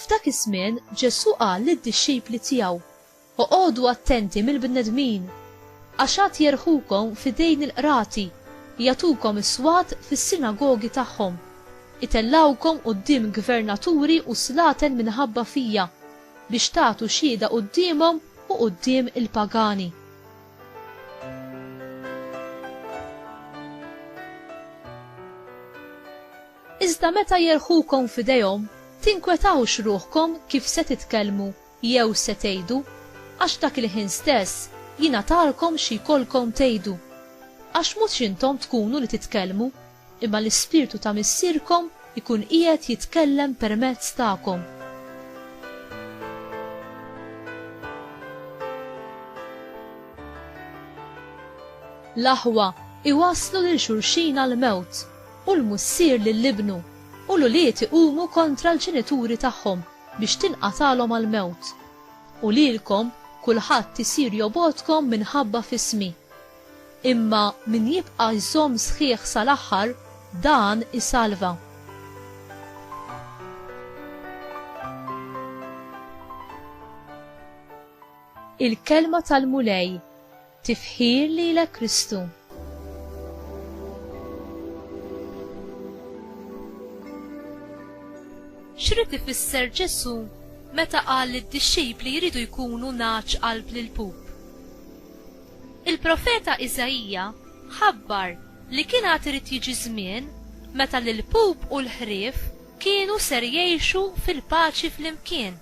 F'dak iż-żmien Ġesù qal lid-dixxipli tiegħu, Oqogħdu attenti mill-bnedmin, għax għad jerħukom f'idejn il-qrati, jagħtukom is-swat fis-sinagogi tagħhom, itellgħukom quddiem gvernaturi u slaten minħabba fija. biex tagħtu xhieda quddiemhom u quddiem il-pagani. Iżda meta jerħukom f'idejhom, tinkwetawx ruħkom kif se titkellmu jew se tgħidu, għax dak il-ħin stess jingħatalkom xi jkollkom tgħidu. Għax mhux intom tkunu li titkellmu, Imma l-Ispirtu ta' Missierkom ikun qiegħed jitkellem permezz tagħkom. L-aħwa iwasslu lil xulxin għall-mewt, u l-mussier lil ibnu, u l-ulied iqumu kontra l-ġenituri tagħhom biex tinqatagħlhom għall-mewt. U lilkom kulħadd isir jobgħodkom minħabba f'ismi. Imma min jibqa' jżomm sħiħ sal-aħħar, dan isalva. Il-Kelma tal-Mulej, Tifħir lilek Kristu. X'rid ifisser Ġesù meta qal li d-dixxipli jridu jkunu nagħaġ qalb lill-pup? Il-profeta Iżaija ħabbar li kien għad irid jiġi żmien meta l-ilpup u l-ħrief kienu ser jgħixu fil-paċi flimkien.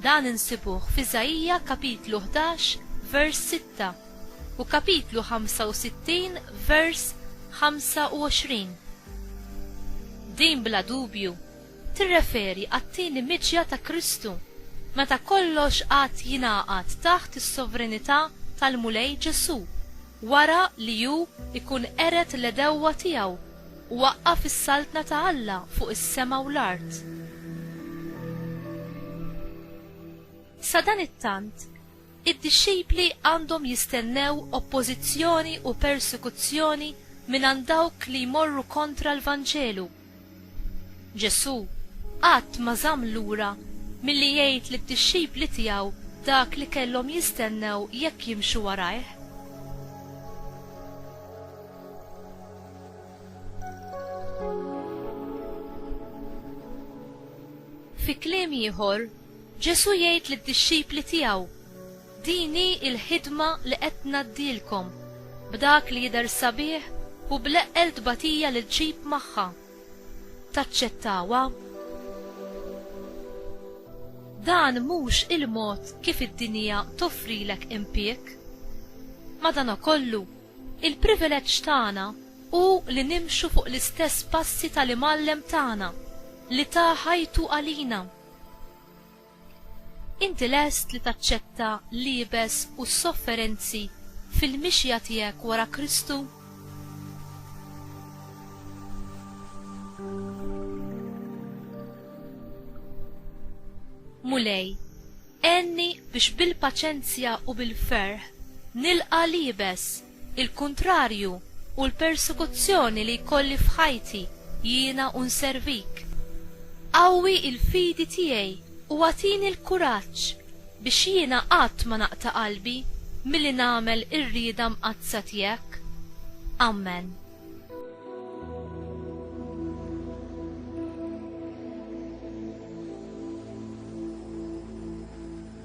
Dan insibuh f'Iżaija kapitlu ħdax vers sitta u kapitlu ħamsa u sittin vers ħamsa u għoxrin. Din bla dubju tirreferi għat-tieni miġja ta' Kristu, meta kollox għad jingħaqad taħt is-sovrenità tal-Mulej Ġesù, wara li hu jkun qered l-għedewwa tiegħu u waqqaf is-saltna ta' Alla fuq is-sema u l-art. Sadanittant, id-dixxipli għandhom jistennew oppożizzjoni u persekuzzjoni mingħand dawk li jmorru kontra l-Vanġelu. Ġesù qatt ma żamm lura milli jgħid lid-dixxipli tiegħu dak li kellhom jistennew jekk jimxu warajh. Fi kliem ieħor, Ġesù jgħid lid-dixxipli tiegħu, Din hi l-ħidma li qed ngħaddilkom, b'dak li jidher sabiħ u bl-eqqel tbatija li ġġib magħha. Taċċettawha? Dan mhux il-mod kif id-dinja toffrilek impieg. Madankollu, il-privileġġ tagħna hu li nimxu fuq l-istess passi tal-Imgħallem tagħna li ta ħajtu għalina. Inti lest li taċċetta l-iebes u s-sofferenzi fil-mixja tiegħek wara Kristu? Mulej, għenni biex bil-paċenzja u bil-ferħ nilqa' l-iebes. il-kuntrarju u l-persekuzzjoni li jkolli f'ħajti, jiena u nservik. Qawwi l-fidi tiegħi u agħtini l-kuraġġ biex jiena qatt ma naqta' qalbi milli nagħmel ir-rieda mqaddsa tiegħek. Ammen.